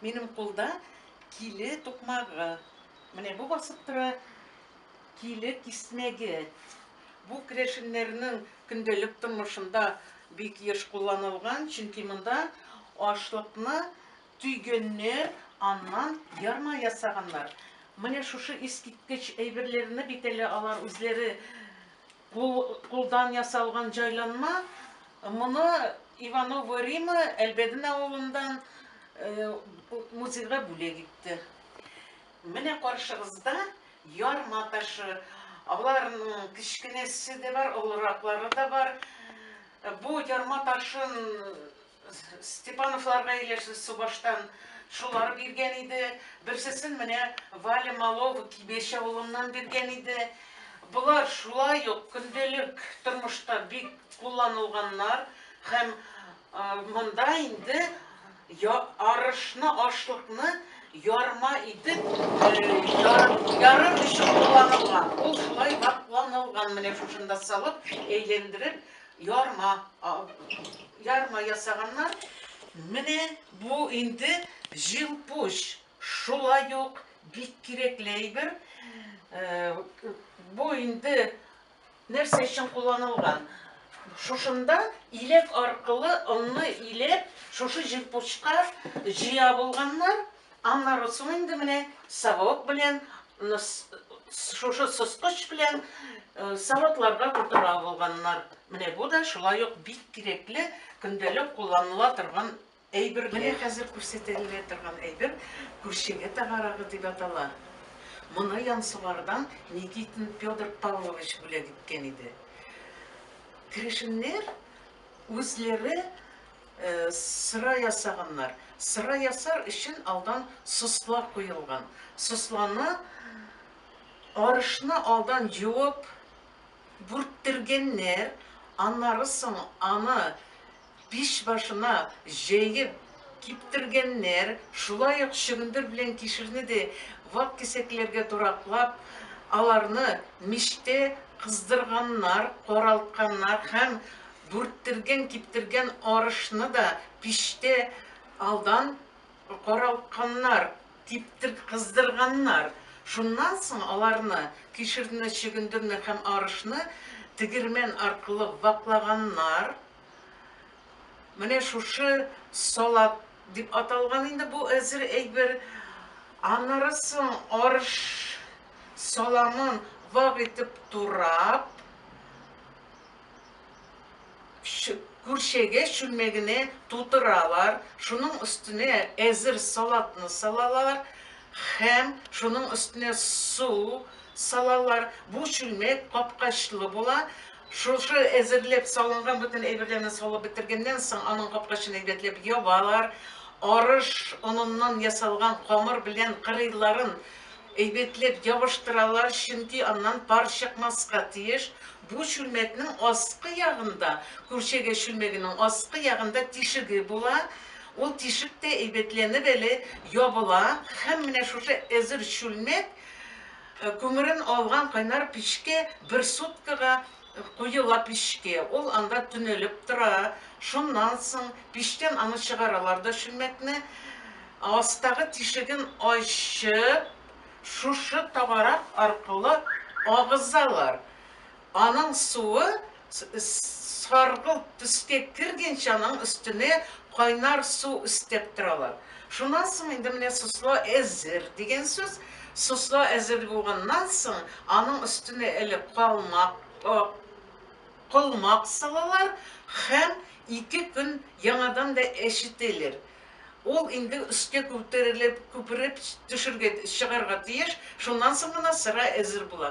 Минем кулда киле тукмагы. Менә бу басып тора киле киснәге. Бу керәшеннәрнең көндәлек тормышында бик еш кулланылган, чөнки монда ашлыкны Төгеннәр аннан ярма ясаганнар. Менә шушы искиткеч әйберләрне бит әле алар үзләре кул, кулдан ясалган җайланма. Моны Иванова Рима Әлбәден авылындан э, музейга бүләк итте. Менә каршыгызда ярма ташы. Аларның кечкенәсе дә бар, олыраклары да бар. Бу ярма ташын Степановларга ияләште, субаштан шулар биргән иде. Берсесен менә Валя Малова Кибеш авылыннан биргән иде. Болар шулай ук көндәлек тормышта бик кулланылганнар һәм монда инде арышны, ашлыкны ярма итеп ярып өчен кулланылган. Ул шулай вакланылган, менә шушында салып, әйләндереп, Ярма, ярма ясаганнар. Менә бу инде җилпуч. Шулай ук бик кирәкле әйбер. Э, бу инде нәрсә өчен кулланылган? Шушында иләк аркылы онны иләп, шушы җилпучка җыя булганнар. Анна Руцун инде менә совок белән, шушы соскыч белән савытларда утыра булганнар. Менә бу да шулай ук бик кирәкле, көндәлек кулланыла торган әйбер. Менә хәзер күрсәтелә торган әйбер күршеңә тагарагы дип атала. Моны Янсугардан Никитин Петр Павлович бүләк иткән иде. Керәшеннәр үзләре Сыра ясаганнар. Сыра ясар өчен алдан сосла куелган. Сосланы арышны алдан юып бүрттергәннәр, аннары соң аны пич башына җәеп киптергәннәр, шулай ук чөгендер белән кишерне дә вак кисәкләргә тураклап, аларны мичтә кыздырганнар, каралтканнар һәм Бүрттергән-киптергән арышны да пичтә алдан каралтканнар, типтер-кыздырганнар. Шуннан соң аларны, кишерне, чөгендерне һәм арышны тегермән аркылы ваклаганнар. Менә шушы салат дип аталган инде бу әзер әйбер. Аннары соң арыш саламын вак итеп турап, Күршегә чүлмәгенә тутыралар, шуның өстенә әзер салатны салалар һәм шуның өстенә су салалар. Бу чүлмәк капкачлы була. Шушы әзерләп салынган бөтен әйберләрне салып бетергәннән соң, аның капкачын әйбәтләп ябалар. Арыш оныннан ясалган камыр белән кырыйларын әйбәтләп ябыштыралар, чөнки аннан пар чыкмаска тиеш. Бу чүлмәкнең аскы ягында, күрчегә чүлмәгенең аскы ягында тишеге була, ул тишек тә әйбәтләнеп әле ябыла һәм менә шушы әзер чүлмәк күмерен алган кайнар пичкә бер суткага куела пичкә, ул анда төнәлеп тора, шуннан соң пичтән аны чыгаралар да чүлмәкне астагы тишеген ачып, шушы тагарак аркылы агызалар. Аның суы саргылт төскә кергенче аның өстенә кайнар су өстәп торалар. Шуннан соң инде менә сосла әзер дигән сүз. Сосла әзер булганнан соң аның өстенә әле калмак, колмак салалар һәм ике көн яңадан да әчетәләр. Ул инде өскә күтерелеп, күпереп төшергә, чыгарга тиеш, шуннан соң гына сыра әзер була.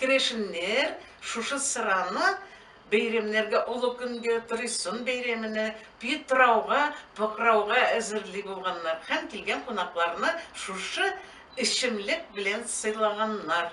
Керәшеннәр шушы сыраны бәйрәмнәргә, олы көнгә, Торыйсын бәйрәменә, Питрауга, Покрауга әзерли булганнар һәм килгән кунакларны шушы эчемлек белән сыйлаганнар.